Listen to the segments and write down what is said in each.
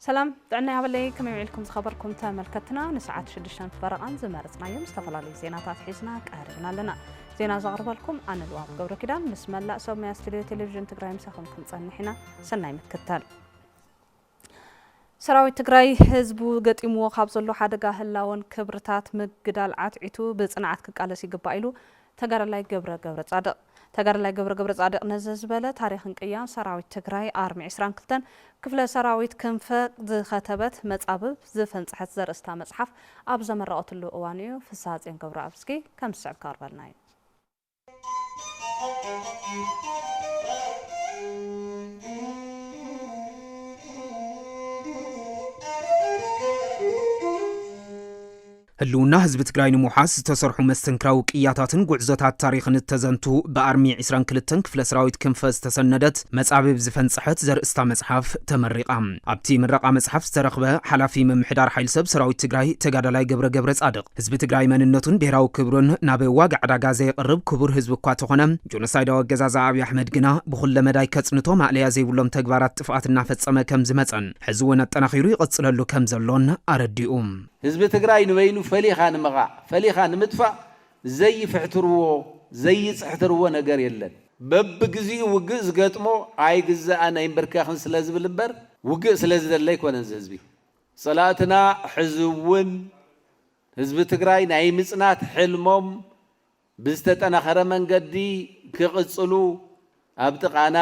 ሰላም ጥዕና ያበለይ ከመይ ውዒልኩም ዝኸበርኩም ተመልከትና ንሰዓት ሽዱሽተን ፈረቓን ዝመረፅናዮም ዝተፈላለዩ ዜናታት ሒዝና ቀሪብና ኣለና ዜና ዘቕርበልኩም ኣነ ልዋም ገብረ ኪዳን ምስ መላእ ሰብ ሙያ ስቱድዮ ቴሌቭዥን ትግራይ ምሳኹም ክንፀንሕ ኢና ሰናይ ምክትታል ሰራዊት ትግራይ ህዝቡ ገጢምዎ ካብ ዘሎ ሓደጋ ህላወን ክብርታት ምግዳል ዓትዒቱ ብፅንዓት ክቃለስ ይግባእ ኢሉ ተጋዳላይ ገብረ ገብረፃድቕ። ተጋዳላይ ገብረ ገብረፃድቕ ነዚ ዝበለ ታሪኽን ቅያን ሰራዊት ትግራይ ኣርሚ ዕስራን ክልተን ክፍለ ሰራዊት ክንፈ ዝኸተበት መፃብብ ዝፈንፀሐት ዘርእስታ መፅሓፍ ኣብ ዘመረቐትሉ እዋን እዩ። ፍስሃፅዮን ገብረኣብዝጊ ከም ዝስዕብ ከቕርበልና እዩ። ህልውና ህዝቢ ትግራይ ንምውሓስ ዝተሰርሑ መስተንክራዊ ቅያታትን ጉዕዞታት ታሪኽን እተዘንቱ ብኣርሚ ዕስራን ክልተን ክፍለ ሰራዊት ክንፈ ዝተሰነደት መጻብብ ዝፈንጸሐት ዘርእስታ መጽሓፍ ተመሪቓ። ኣብቲ ምረቓ መጽሓፍ ዝተረኽበ ሓላፊ ምምሕዳር ሓይሊ ሰብ ሰራዊት ትግራይ ተጋዳላይ ገብረ ገብረጻድቕ፣ ህዝቢ ትግራይ መንነቱን ብሄራዊ ክብሩን ናብ ዋጋ ዕዳጋ ዘየቕርብ ክቡር ህዝቢ እኳ ተኾነ፣ ጆኖሳይዳዊ ኣገዛዝኣ ኣብይ ኣሕመድ ግና ብኹለ መዳይ ከፅንቶ ማእለያ ዘይብሎም ተግባራት ጥፍኣት እናፈፀመ ከምዝመፀን ሕዚ እውን ኣጠናኺሩ ይቕፅለሉ ከምዘሎን ኣረዲኡ። ህዝቢ ትግራይ ንበይኑ ፈሊኻ ንምቓዕ፣ ፈሊኻ ንምጥፋእ ዘይፍሕትርዎ፣ ዘይፅሕትርዎ ነገር የለን። በብግዚኡ ውግእ ዝገጥሞ ኣይግዛእን ኣይምብርከኽን ስለዝብል እምበር ውግእ ስለዝደሊ ኣይኮነን እዚ ህዝቢ። ፀላእትና ሕዚ እውን ህዝቢ ትግራይ ናይ ምፅናት ሕልሞም ብዝተጠናኸረ መንገዲ ክቕፅሉ ኣብ ጥቓና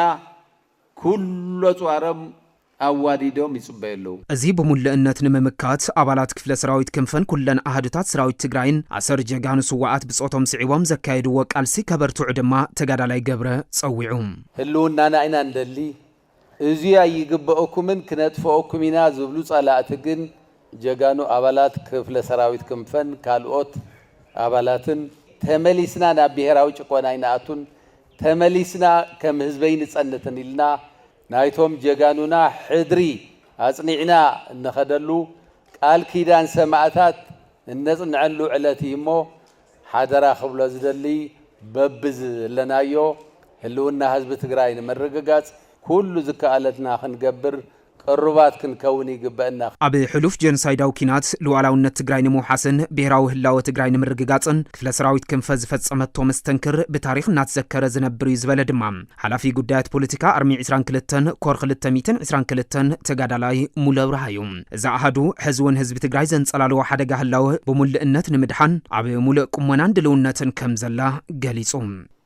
ኩሉ ኣፅዋሮም ኣዋዲዶም ይፅበዩ ኣለዉ። እዚ ብሙሉእነት ንምምካት ኣባላት ክፍለ ሰራዊት ክንፈን ኩለን ኣሃዱታት ሰራዊት ትግራይን ኣሰር ጀጋኑ ስዋኣት ብፆቶም ስዒቦም ዘካየድዎ ቃልሲ ከበርትዑ ድማ ተጋዳላይ ገብረ ፀዊዑ። ህልውናና ኢና ንደሊ፣ እዙይ ኣይግበእኩምን ክነጥፈኦኩም ኢና ዝብሉ ፀላእቲ ግን ጀጋኑ ኣባላት ክፍለ ሰራዊት ክንፈን ካልኦት ኣባላትን ተመሊስና ናብ ብሄራዊ ጭቆና ኣይንኣቱን ተመሊስና ከም ህዝቢ ኣይንፀንትን ኢልና ናይቶም ጀጋኑና ሕድሪ ኣፅኒዕና እንኸደሉ ቃል ኪዳን ሰማእታት እነፅንዐሉ ዕለት እዩሞ ሓደራ ክብሎ ዝደሊ በብዝለናዮ ህልውና ህዝቢ ትግራይ ንምርግጋፅ ኩሉ ዝከኣለትና ክንገብር ቅሩባት ክንከውን ይግበእና። ኣብ ሕሉፍ ጀኖሳይዳዊ ኲናት ሉኣላውነት ትግራይ ንምውሓስን ብሄራዊ ህላወ ትግራይ ንምርግጋፅን ክፍለ ሰራዊት ክንፈ ዝፈፀመቶ መስተንክር ብታሪኽ እናተዘከረ ዝነብር እዩ ዝበለ ድማ ሓላፊ ጉዳያት ፖለቲካ ኣርሚ ዕስራን ክልተን ኮር ክልተ ሚእትን ዕስራን ክልተን ተጋዳላይ ሙሉ ኣብርሃ እዩ። እዚ ኣሃዱ ሕዚ እውን ህዝቢ ትግራይ ዘንፀላልዎ ሓደጋ ህላወ ብሙልእነት ንምድሓን ኣብ ሙሉእ ቁመናን ድልውነትን ከም ዘላ ገሊፁ።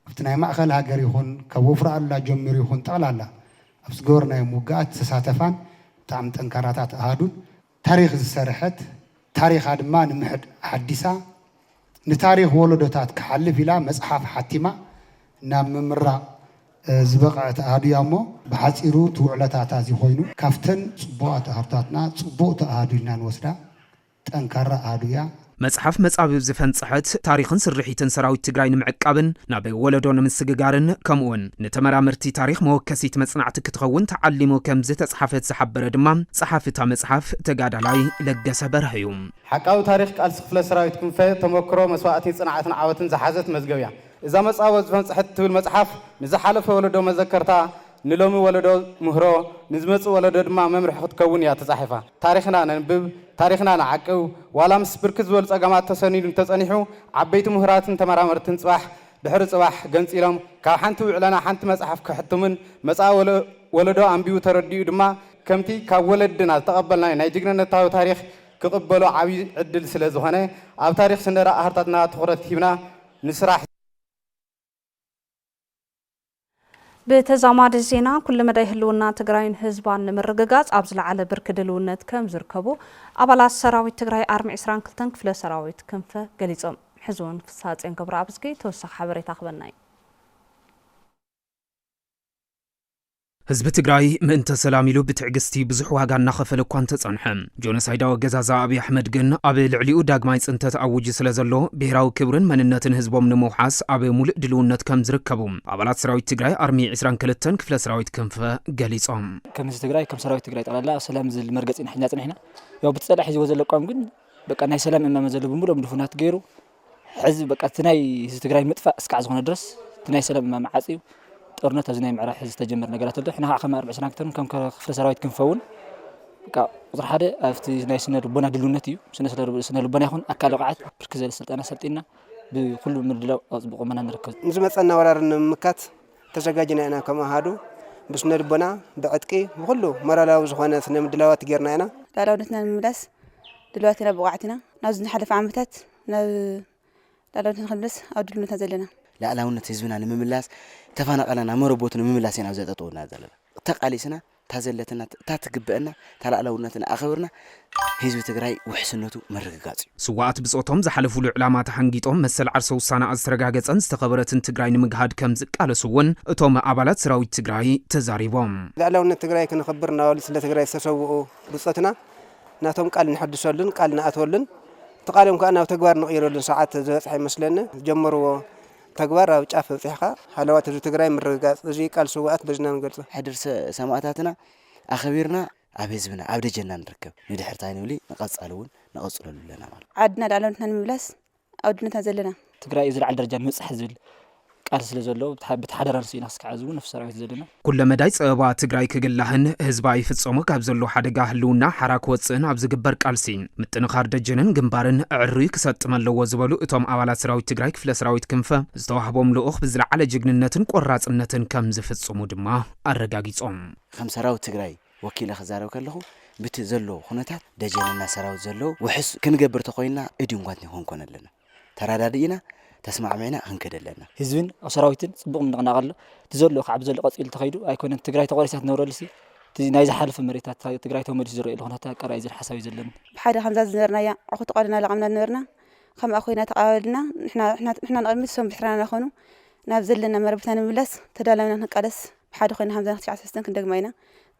ኣብቲ ናይ ማእኸል ሃገር ይኹን ካብ ወፍሪ ኣሉላ ጀሚሩ ይኹን ጠቕላላ ኣብ ዝገበርናዮም ውግኣት ዝተሳተፋን ብጣዕሚ ጠንካራታት ኣሃዱን ታሪኽ ዝሰርሐት፣ ታሪኻ ድማ ንምሕድ ኣሓዲሳ፣ ንታሪኽ ወለዶታት ክሓልፍ ኢላ መጽሓፍ ሓቲማ ናብ ምምራቕ ዝበቐዐት ኣሃዱ እያ እሞ፣ ብሓጺሩ እቲ ውዕለታታ እዚ ኮይኑ፣ ካብተን ጽቡቓት ኣሃዱታትና ጽቡቕቲ ኣሃዱ ኢልና ንወስዳ ጠንካራ ኣሃዱ እያ። መፅሓፍ መፃብብ ዝፈንፀሐት፣ ታሪኽን ስርሒትን ሰራዊት ትግራይ ንምዕቃብን ናብ ወለዶ ንምስግጋርን ከምኡ እውን ንተመራመርቲ ታሪኽ መወከሲት መፅናዕቲ ክትኸውን ተዓሊሙ ከምዝተፅሓፈት ዝሓበረ ድማ ፀሓፊ እታ መፅሓፍ ተጋዳላይ ለገሰ በርሀ እዩ። ሓቃዊ ታሪኽ ቃልሲ ክፍለ ሰራዊት ክንፈ፣ ተሞክሮ፣ መስዋእቲ፣ ፅንዓትን ዓወትን ዝሓዘት መዝገብ እያ። እዛ መፃብብ ዝፈንፀሐት እትብል መፅሓፍ ንዝሓለፈ ወለዶ መዘከርታ፣ ንሎሚ ወለዶ ምህሮ፣ ንዝመጽእ ወለዶ ድማ መምርሒ ክትከውን እያ ተጻሒፋ። ታሪኽና ነንብብ፣ ታሪኽና ንዓቅብ፣ ዋላ ምስ ብርክት ዝበሉ ጸገማት ተሰኒዱ እንተጸኒሑ፣ ዓበይቲ ምሁራትን ተመራመርትን ጽባሕ ድሕሪ ጽባሕ ገንጺሎም ካብ ሓንቲ ውዕለና ሓንቲ መጽሓፍ ከሕትሙን መጻኢ ወለዶ ኣንቢቡ ተረዲኡ ድማ ከምቲ ካብ ወለድና ዝተቐበልናዮ ናይ ጅግንነታዊ ታሪኽ ክቕበሎ ዓቢ ዕድል ስለ ዝኾነ ኣብ ታሪኽ ስነዳ ኣህርታትና ትኹረት ሂብና ንስራሕ። ብተዛማዲ ዜና ኩሉ መዳይ ህልውና ትግራይን ህዝባን ንምርግጋፅ ኣብ ዝለዓለ ብርኪ ድልውነት ከም ዝርከቡ ኣባላት ሰራዊት ትግራይ ኣርሚ ዕስራን ክልተን ክፍለ ሰራዊት ክንፈ ገሊፆም። ሕዚ እውን ፍስሃፅዮን ገብረኣብዝጊ ተወሳኺ ሓበሬታ ክበና እዩ። ህዝቢ ትግራይ ምእንተ ሰላም ኢሉ ብትዕግስቲ ብዙሕ ዋጋ እናኸፈለ እኳ እንተጸንሐ፣ ጆኖሳይዳዊ ኣገዛዝኣ ኣብይ ኣሕመድ ግን ኣብ ልዕሊኡ ዳግማይ ጽንተት ኣዊጁ ስለዘሎ፣ ብሄራዊ ክብርን መንነትን ህዝቦም ንምውሓስ ኣብ ሙሉእ ድልውነት ከምዝርከቡ ኣባላት ሰራዊት ትግራይ ኣርሚ ዕስራን ክልተን ክፍለ ሰራዊት ክንፈ ገሊጾም። ከም ህዝቢ ትግራይ ከም ሰራዊት ትግራይ ጠቕላላ ኣብ ሰላም ዝል መርገፂ ኢና ሒዝና ፀኒሕና። ያው ብቲ ፀላኢ ሒዝዎ ዘሎ ኣቋም ግን በቃ ናይ ሰላም እማመ ዘለዎ ብምሉኦም ድፉናት ገይሩ ሕዚ በቃ እቲ ናይ ህዝቢ ትግራይ ምጥፋእ እስካዕ ዝኾነ ድረስ እቲ ናይ ሰላም እማመ ዓፅዩ ጦርነት ኣብዚ ናይ ምዕራብ ሕዚ ዝተጀመረ ነገራት ኣሎ ሕና ከዓ ከም ኣርብዕ ስራን ክተርን ከም ክፍለ ሰራዊት ክንፈውን በቃ ቁፅሪ ሓደ ኣብቲ ናይ ስነ ልቦና ድልውነት እዩ ስነ ስነ ልቦና ይኹን ኣካል ብቕዓት ብርክ ዝበለ ስልጠና ሰልጢና ብኩሉ ምድላው ኣብ ፅቡቅ ቁመና ንርከብ ንዝመፀና ወራር ንምምካት ተዘጋጅና ኢና ከም ኣሃዱ ብስነልቦና ብዕጥቂ ብኹሉ ሞራላዊ ዝኾነ ስነ ምድላዋት ጌርና ኢና። ላዕላውነትና ንምምላስ ድልዋት ኢና ብቑዓት ኢና ናብዚ ዝሓለፈ ዓመታት ናብ ላዕላውነትና ክንምለስ ኣብ ድልውነትና ዘለና። ላዕላውነት ህዝብና ንምምላስ ተፋናቐልና መረቦቱ ንምምላስ ኢና ኣብዚኣ ጠጠው ኢልና ዘለና ተቓሊስና እታ ዘለትና እታ ትግበእና እታ ላእላውነትና ኣኸብርና ህዝቢ ትግራይ ውሕስነቱ ምርግጋፅ እዩ። ስዋኣት ብፆቶም ዝሓለፉሉ ዕላማ ተሓንጊጦም መሰል ዓርሰ ውሳነኣ ዝተረጋገፀን ዝተኸበረትን ትግራይ ንምግሃድ ከምዝቃለሱ እውን እቶም ኣባላት ሰራዊት ትግራይ ተዛሪቦም። ልዕላውነት ትግራይ ክነኽብር እናበሉ ስለ ትግራይ ዝተሰውኡ ብፆትና ናቶም ቃል ነሐድሰሉን ቃል ንኣትወሉን እቲ ቃሎም ከዓ ናብ ተግባር ንቕይረሉን ሰዓት ዝበፅሐ ይመስለኒ። ዝጀመርዎ ተግባር ኣብ ጫፍ ኣብፂሕኻ ሃለዋት ህዝቢ ትግራይ ምርግጋፅ እዙይ ቃል ስውኣት በዚ ኢና ንገልፆ። ሕድሪ ሰማእታትና ኣኸቢርና ኣብ ህዝብና ኣብ ደጀንና ንርከብ ንድሕር ታይ ንብሊ ንቀፃሊ እውን ንቐፅለሉ ኣለና ማለት። ዓድና ልኣላውነትና ንምምላስ ኣብ ኣድነትና ዘለና። ትግራይ ዝለዓለ ደረጃ ንምብፃሕ ዝብል ቃልሲ ስለዘሎ በቲ ሓደራ ንሱ ኢና ክስካዕ ሕዚ እውን ነፍሲ ሰራዊት ዘለና። ኩለመዳይ ፀበባ ትግራይ ክግላህን ህዝባ ይፍፀሞ ካብ ዘሎ ሓደጋ ህልውና ሓራ ክወፅእን ኣብ ዝግበር ቃልሲ ምጥንኻር ደጀንን ግንባርን ኣዕርዩ ክሰጥም ኣለዎ ዝበሉ እቶም ኣባላት ሰራዊት ትግራይ ክፍለ ሰራዊት ክንፈ ዝተዋህቦም ልኡኽ ብዝለዓለ ጅግንነትን ቆራፅነትን ከምዝፍፅሙ ድማ ኣረጋጊፆም። ከም ሰራዊት ትግራይ ወኪለ ክዛረብ ከለኹ ብቲ ዘሎ ኩነታት ደጀንና ሰራዊት ዘለዎ ውሕስ ክንገብር ተኾይንና እድንጓትኒ ክንኮን ኣለና። ተራዳዲኢና ተስማዕሚዕና ክንከድ ኣለና። ህዝብን ሰራዊትን ፅቡቅ ምንቅናቅ ኣሎ እቲ ዘሎ ካዓ ብዘሎ ቀፂሉ ተከይዱ ኣይኮነን ትግራይ ተቆሪሳ ትነብረሉሲ እቲ ናይ ዝሓለፈ መሬታ ትግራይ ተመሊሱ ዝረኤሉ ኩነታት ቀረባ እዩ ዝብል ሓሳብ እዩ ዘለኒ። ብሓደ ከምዛ ዝነበርናያ ዓኹ ተቃሊና ለቃምና ዝነበርና ከምኣ ኮይና ተቃባበልና ንሕና ንቅድሚት እሶም ብሕራና ናኾኑ ናብ ዘለና መረበትና ንምምላስ ተዳላዊና ክንቃለስ ብሓደ ኮይና ከምዛ ትሽዓተ ሰለስተን ክንደግማ ኢና።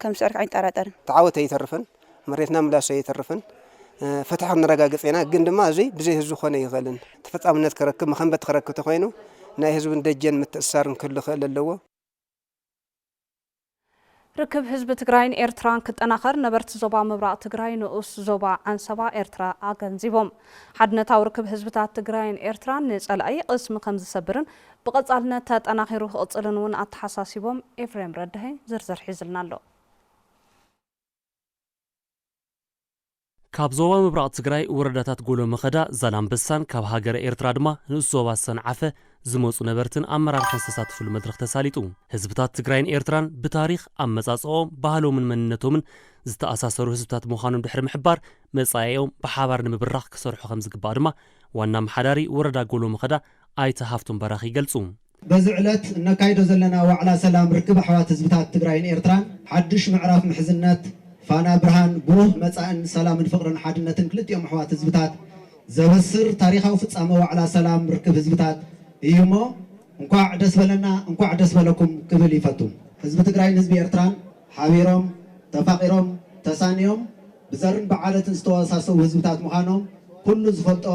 ከም ዝስዕርክ ኣይንጠራጠርን። ተዓወት ኣይተርፍን መሬትና ምላሽ ኣይተርፍን ፍትሒ ክንረጋግፅ ኢና ግን ድማ እዙይ ብዘይ ህዝቢ ክኾነ ኣይኽእልን ተፈፃምነት ክረክብ መኸንበት ክረክብ ተኾይኑ ናይ ህዝብን ደጀን ምትእስሳርን ክህሉ ክእል ኣለዎ። ርክብ ህዝቢ ትግራይን ኤርትራን ክጠናኸር ነበርቲ ዞባ ምብራቕ ትግራይ ንኡስ ዞባ ዓንሰባ ኤርትራ ኣገንዚቦም። ሓድነታዊ ርክብ ህዝብታት ትግራይን ኤርትራን ንፀላኢ ቕስሚ ከምዝሰብርን ብቐፃልነት ተጠናኺሩ ክቕፅልን እውን ኣተሓሳሲቦም። ኤፍሬም ረዳሀ ዝርዝር ሒዙልና ኣሎ። ካብ ዞባ ምብራቕ ትግራይ ወረዳታት ጎሎ መኸዳ፣ ዛላምበሳን ካብ ሃገረ ኤርትራ ድማ ንኡስ ዞባ ሰንዓፈ ዝመፁ ነበርትን ኣመራርሓን ዝተሳተፍሉ መድረኽ ተሳሊጡ። ህዝብታት ትግራይን ኤርትራን ብታሪኽ፣ ኣመፃፅኣኦም፣ ባህሎምን መንነቶምን ዝተኣሳሰሩ ህዝብታት ምዃኖም ድሕሪ ምሕባር፣ መፃኢኦም ብሓባር ንምብራኽ ክሰርሑ ከምዝግባእ ድማ ዋና ኣመሓዳሪ ወረዳ ጎሎ መኸዳ ኣይተ ሃፍቶም በራኺ ይገልፁ። በዚ ዕለት እነካይዶ ዘለና ዋዕላ ሰላም ርክብ ኣሕዋት ህዝብታት ትግራይን ኤርትራን ሓዱሽ ምዕራፍ ምሕዝነት፣ ፋና ብርሃን ብሩህ መፃእን ሰላምን ፍቕርን ሓድነትን ክልቲኦም ኣሕዋት ህዝብታት ዘበስር ታሪኻዊ ፍፃመ ዋዕላ ሰላም ርክብ ህዝብታት እዩሞ እንኳዕ ደስ በለና እንኳዕ ደስ በለኩም ክብል ይፈቱ። ህዝቢ ትግራይን ህዝቢ ኤርትራን ሓቢሮም፣ ተፋቒሮም፣ ተሳንዮም ብዘርን ብዓለትን ዝተወሳሰቡ ህዝብታት ምዃኖም ኩሉ ዝፈልጦ፣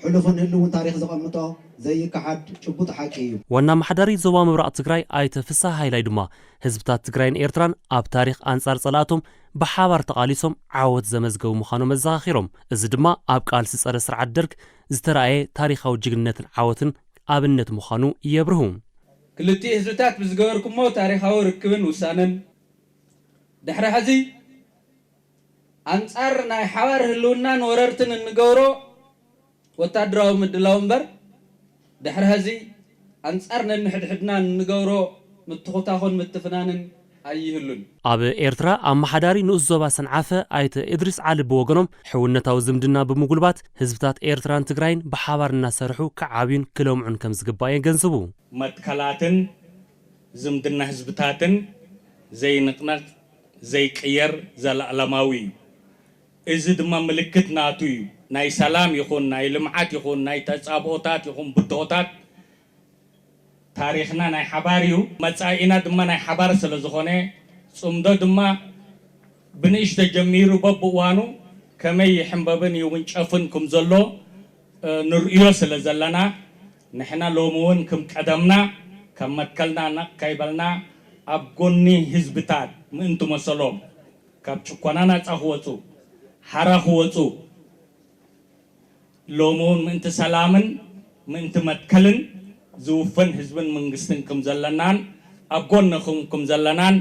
ሕሉፍን ህልውን ታሪኽ ዘቐምጦ ዘይከሓድ ጭቡጥ ሓቂ እዩ። ዋና ኣመሓዳሪ ዞባ ምብራቕ ትግራይ ኣይተ ፍስሃ ሃይላይ ድማ፣ ህዝብታት ትግራይን ኤርትራን ኣብ ታሪኽ ኣንጻር ጸላእቶም ብሓባር ተቓሊሶም ዓወት ዘመዝገቡ ምዃኖም ኣዘኻኺሮም። እዚ ድማ ኣብ ቃልሲ ጸረ ስርዓት ደርግ ዝተራእየ ታሪኻዊ ጅግንነትን ዓወትን ኣብነት ምዃኑ የብርሁ። ክልቲኡ ህዝብታት ብዝገበርኩሞ ታሪኻዊ ርክብን ውሳነን ድሕሪ ሕዚ፣ ኣንጻር ናይ ሓባር ህልውናን ወረርትን እንገብሮ ወታደራዊ ምድላው እምበር፣ ድሕሪ ሀዚ ኣንጻር ነንሕድሕድና እንገብሮ ምትኹታኹን ምትፍናንን ኣይህሉን። ኣብ ኤርትራ ኣመሓዳሪ ንኡስ ዞባ ሰንዓፈ ኣይተ እድሪስ ዓሊ ብወገኖም፣ ሕውነታዊ ዝምድና ብምጉልባት፣ ህዝብታት ኤርትራን ትግራይን ብሓባር እናሰርሑ ክዓብዩን ክለምዑን ከምዝግባእ የገንዝቡ። መትከላትን ዝምድና ህዝብታትን ዘይንቅነቕ ዘይቅየር ዘላእለማዊ እዩ። እዚ ድማ ምልክት ናቱ እዩ። ናይ ሰላም ይኹን ናይ ልምዓት ይኹን ናይ ተፃብኦታት ይኹን ብድሆታት ታሪኽና ናይ ሓባር እዩ። መፃኢና ድማ ናይ ሓባር ስለዝኾነ ፅምዶ ድማ ብንእሽቶ ጀሚሩ በብእዋኑ ከመይ ይሕምበብን ይውንጨፍን ክምዘሎ ንርእዮ ስለ ዘለና ንሕና ሎሚ ውን ክም ቀደምና ካብ መትከልና ነቅ ከይበልና ኣብ ጎኒ ህዝብታት ምእንቲ መሰሎም ካብ ጭኮና ናጻ ክወጹ ሓራ ክወጹ ሎሚ ውን ምእንቲ ሰላምን ምእንቲ መትከልን ዝውፍን ህዝብን መንግስትን ክም ዘለናን ኣብ ጎንኹም ክም ዘለናን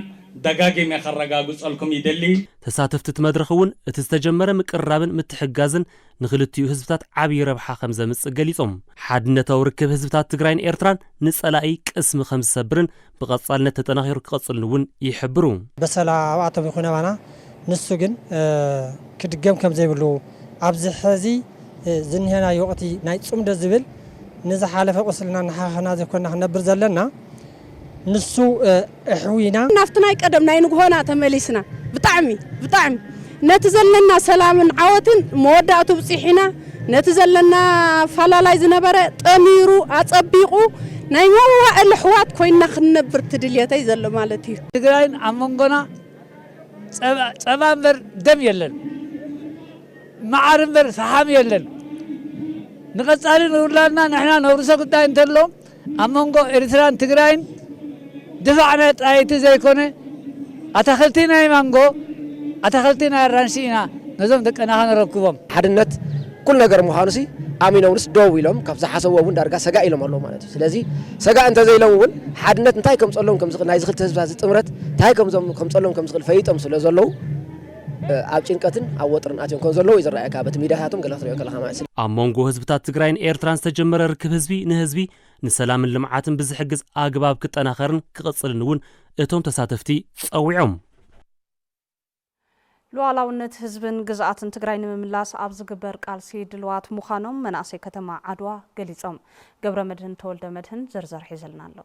ደጋጊመ ከረጋግጸልኩም ይደሊ። ተሳተፍቲ እቲ መድረኽ እውን እቲ ዝተጀመረ ምቅርራብን ምትሕግጋዝን ንክልቲኡ ህዝብታት ዓብዪ ረብሓ ከም ዘምፅእ ገሊፆም። ሓድነታዊ ርክብ ህዝብታት ትግራይን ኤርትራን ንፀላኢ ቅስሚ ከም ዝሰብርን ብቐፃልነት ተጠናኺሩ ክቐፅልን እውን ይሕብሩ። በሰላ ኣብኣቶም ይኹን ኣባና ንሱ ግን ክድገም ከምዘይብሉ ኣብዚ ሕዚ ዝኒሀናዮ ወቕቲ ናይ ፅምዶ ዝብል ንዝሓለፈ ቁስልና እናሓኸኽና ዘይኮንና ክንነብር ዘለና ንሱ እሕዊና ናብቲ ናይ ቀደም ናይ ንጉሆና ተመሊስና ብጣዕሚ ብጣዕሚ ነቲ ዘለና ሰላምን ዓወትን መወዳእቱ ብጺሒና፣ ነቲ ዘለና ኣፋላላይ ዝነበረ ጠሚሩ ኣጸቢቑ ናይ መዋእል ኣሕዋት ኮይንና ክንነብር እቲ ድልየተይ ዘሎ ማለት እዩ። ትግራይን ኣብ መንጎና ጸባ እምበር ደም የለን፣ መዓር እምበር ፈሓም የለን፣ ንቐጻሊ ንውላድና ንሕና ነውርሶ ጉዳይ እንተሎ፣ ኣብ መንጎ ኤርትራን ትግራይን ድፋዕ ናይ ጣይቲ ዘይኮነ ኣታኽልቲ ናይ ማንጎ ኣታኽልቲ ናይ ኣራንሺ ኢና ነዞም ደቅና ከነረክቦም። ሓድነት ኩሉ ነገር ምዃኑሲ ኣሚኖምንስ ደው ኢሎም ካብ ዝሓሰብዎ እውን ዳርጋ ሰጋእ ኢሎም ኣለዉ ማለት እዩ። ስለዚ ሰጋእ እንተዘይሎም እውን ሓድነት እንታይ ከምፀሎም ከምዝኽእል ናይዚ ክልተ ህዝብታት እዚ ጥምረት እንታይ ከምፀሎም ከምዝኽእል ፈሊጦም ስለዘለዉ ኣብ ጭንቀትን ኣብ ወጥርን ኣትዮም ከም ዘለዉ እዩ ዝረኣየካ በቲ ሚድያታቶም ገለ ክትሪኦ ከለኻ ማለት እዩ። ኣብ ሞንጎ ህዝብታት ትግራይን ኤርትራን ዝተጀመረ ርክብ ህዝቢ ንህዝቢ ንሰላምን ልምዓትን ብዝሕግዝ ኣግባብ ክጠናኸርን ክቕፅልን እውን እቶም ተሳተፍቲ ፀዊዖም። ሉኣላውነት ህዝብን ግዝኣትን ትግራይ ንምምላስ ኣብ ዝግበር ቃልሲ ድልዋት ምዃኖም መናእሰይ ከተማ ዓድዋ ገሊፆም። ገብረመድህን ተወልደመድህን ዝርዝር ሒዝልና ኣሎ።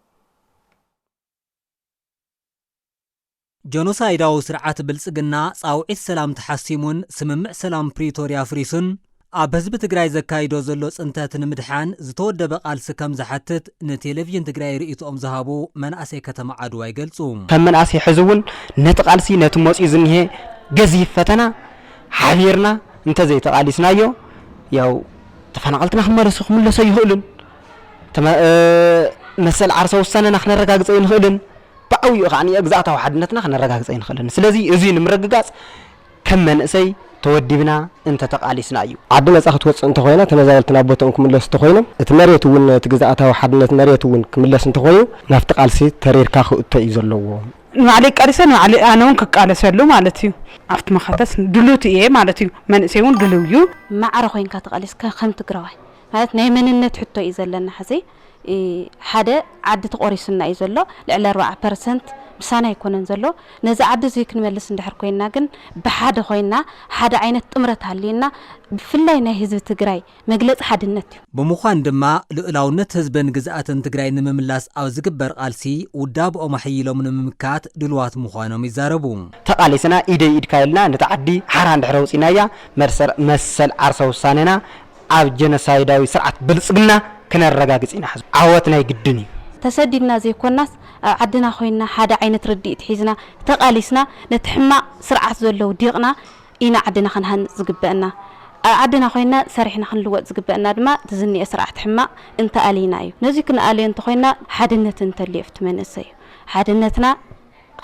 ጀኖሳይዳዊ ስርዓት ብልፅግና ፃውዒት ሰላም ተሓሲሙን ስምምዕ ሰላም ፕሪቶርያ ኣፍሪሱን ኣብ ህዝቢ ትግራይ ዘካይዶ ዘሎ ፅንተት ንምድሓን ዝተወደበ ቃልሲ ከምዝሓትት ንቴሌቪዥን ትግራይ ርኢትኦም ዝሃቡ መናእሰይ ከተማ ዓድዋ ይገልፁ። ከም መንእሰይ ሕዚ እውን ነቲ ቃልሲ ነቲ መፂኡ ዝኒሀ ገዚፍ ፈተና ሓቢርና እንተዘይተቓሊስናዮ ያው ተፈናቐልትና ክመለሱ ክምለሱ ኣይኽእሉን፣ መሰል ዓርሰ ውሳነና ክነረጋግፅ ኣይንኽእልን፣ ብዓብይኡ ከኣ ግዝኣታዊ ሓድነትና ከነረጋግፅ ኣይንኽእልን። ስለዚ እዙይ ንምርግጋፅ ከም መንእሰይ ተወዲብና እንተተቓሊስና እዩ። ዓዲ ነፃ ክትወፅእ እንተኾይና ተመዛበልቲ ናብ ቦትኦም ክምለሱ እንተኾይኖም እቲ መሬት እውን እቲ ግዝኣታዊ ሓድነት መሬት እውን ክምለስ እንተኾይኑ ናብቲ ቃልሲ ተሪርካ ክእቶ እዩ ዘለዎ። ንባዕለይ ቃሊሰ ንባዕለይ ኣነ እውን ክቃለሰሉ ማለት እዩ። ኣብቲ መኸተስ ድሉት እየ ማለት እዩ። መንእሰይ እውን ድልው እዩ። ማዕረ ኮይንካ ተቓሊስካ ከም ትግራዋይ ማለት ናይ መንነት ሕቶ እዩ ዘለና ሕዚ። ሓደ ዓዲ ተቖሪሱና እዩ ዘሎ ልዕሊ ኣርባዓ ፐርሰንት ምሳና ኣይኮነን ዘሎ ነዚ ዓዲ እዙይ ክንመልስ እንድሕር ኮይና ግን ብሓደ ኮይና ሓደ ዓይነት ጥምረት ሃልዩና ብፍላይ ናይ ህዝቢ ትግራይ መግለፂ ሓድነት እዩ። ብምዃን ድማ ልኡላውነት ህዝብን ግዝኣትን ትግራይ ንምምላስ ኣብ ዝግበር ቓልሲ ውዳብኦም ኣሐይሎም ንምምካት ድሉዋት ምዃኖም ይዛረቡ። ተቓሊስና ኢደይ ኢድካ ኢልና ነታ ዓዲ ሓራ እንድሕር ኣውፂእናያ መሰል ዓርሰ ውሳነና ኣብ ጀኖሳይዳዊ ስርዓት ብልጽግና ክነረጋግጽ ኢና ሕዝቦ ዓወት ናይ ግድን እዩ። ተሰዲድና ዘይኮናስ ኣብ ዓድና ኮይንና ሓደ ዓይነት ርድኢት ሒዝና ተቃሊስና ነቲ ሕማቅ ስርዓት ዘሎ ውዲቅና ኢና ዓድና ክንሃንጽ ዝግበእና ኣብ ዓድና ኮይንና ሰሪሕና ክንልወጥ ዝግበእና ድማ እቲ ዝኒኤ ስርዓት ሕማቅ እንተኣሊና እዩ ነዙይ ክንኣልዮ እንተኮይንና ሓድነት እንተልዮ ኣብቲ መንእሰይ እዩ ሓድነትና